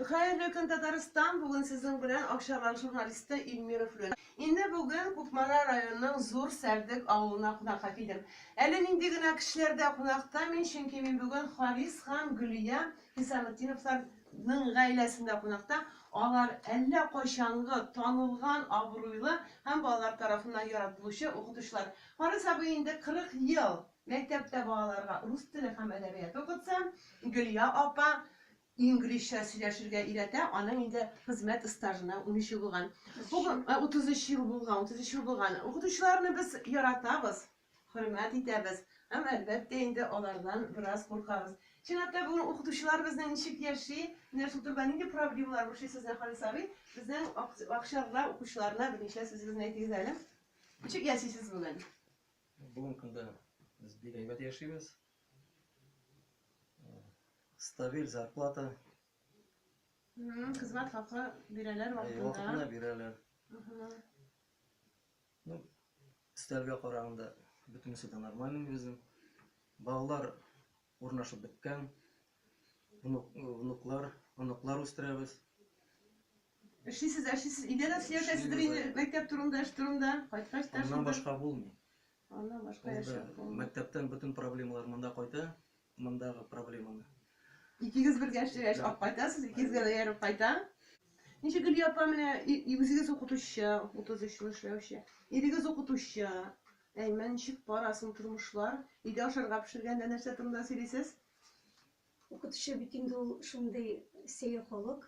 Хәерле көн, Татарстан! Бүген сезнең белән Акчарлак журналисты Ильмира Флен. Инде бүген Кукмара районының Зур Сәрдек авылына кунакка килдем. Әле нинди генә кешеләр дә кунакта мин, чөнки мин бүген Харис һәм Гөлия Хисаметдиновларның гаиләсендә кунакта. Алар әллә кайчангы танылган, абруйлы һәм балалар тарафыннан яратылучы укытучылар. Харис абый инде 40 ел Мәктәптә балаларга рус теле һәм әдәбияты укытса, Гөлия апа инглизчә сөйләшергә өйрәтә, аның инде хезмәт стажына унөч ел булган. Утыз өч ел булган, утыз өч ел булган. Укытучыларны без яратабыз, хөрмәт итәбез һәм, әлбәттә инде, алардан бераз куркабыз. Чынлап та, бүген укытучылар безнең ничек яши, менә шул турыда нинди проблемалар борчый сезне, Харис абый? Безнең акчарлар, укучыларына берничә сүзегезне әйтегез әле. Ничек яшисез бүген? Бүгенге көндә без бик әйбәт яшибез. Стабиль зарплата. Хезмәт хакы бирәләр вакытында. Вакытында бирәләр. Ну, өстәлгә караганда бөтенесе дә нормальный безнең. Балалар урнашып беткән. Внук, внуклар, оныклар үстерәбез. Эшлисез дә эшлисез, өйдә дә сөйләшәсездер инде мәктәп турында, эш турында, кайткач та шунда. Аннан башка булмый. Аннан башка эш юк. Мәктәптән бөтен проблемалар монда кайта, мондагы проблеманы. Икегез бергә эшләгәч, алып кайтасыз, икегезгә дә ярып кайта. Ничек Гөлия апа менә үзегез укытучы, 33 ел эшләүче. Ирегез укытучы. Әймен, ничек бара соң тормышлар? Өйдә ашарга пешергәндә нәрсә турында сөйлисез? Укытучы бит инде ул шундый сәер халык.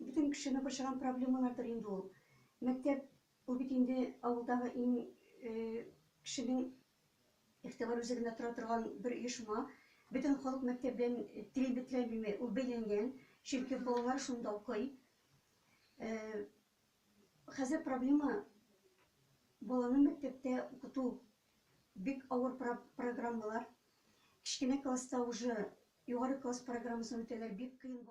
Бөтен кешене борчыган проблемалардыр инде ул. Мәктәп, ул бит инде авылдагы иң кешенең игътибар үзәгендә тора торган бер оешма. Бөтен халык мәктәп белән тирәнлекләмиме, ул бәйләнгән, чөнки балалар шунда укый. Хәзер проблема, баланы мәктәптә укыту, бик авыр программалар. Кечкенә класста уже югары класс программасын үтәләр, бик кыен.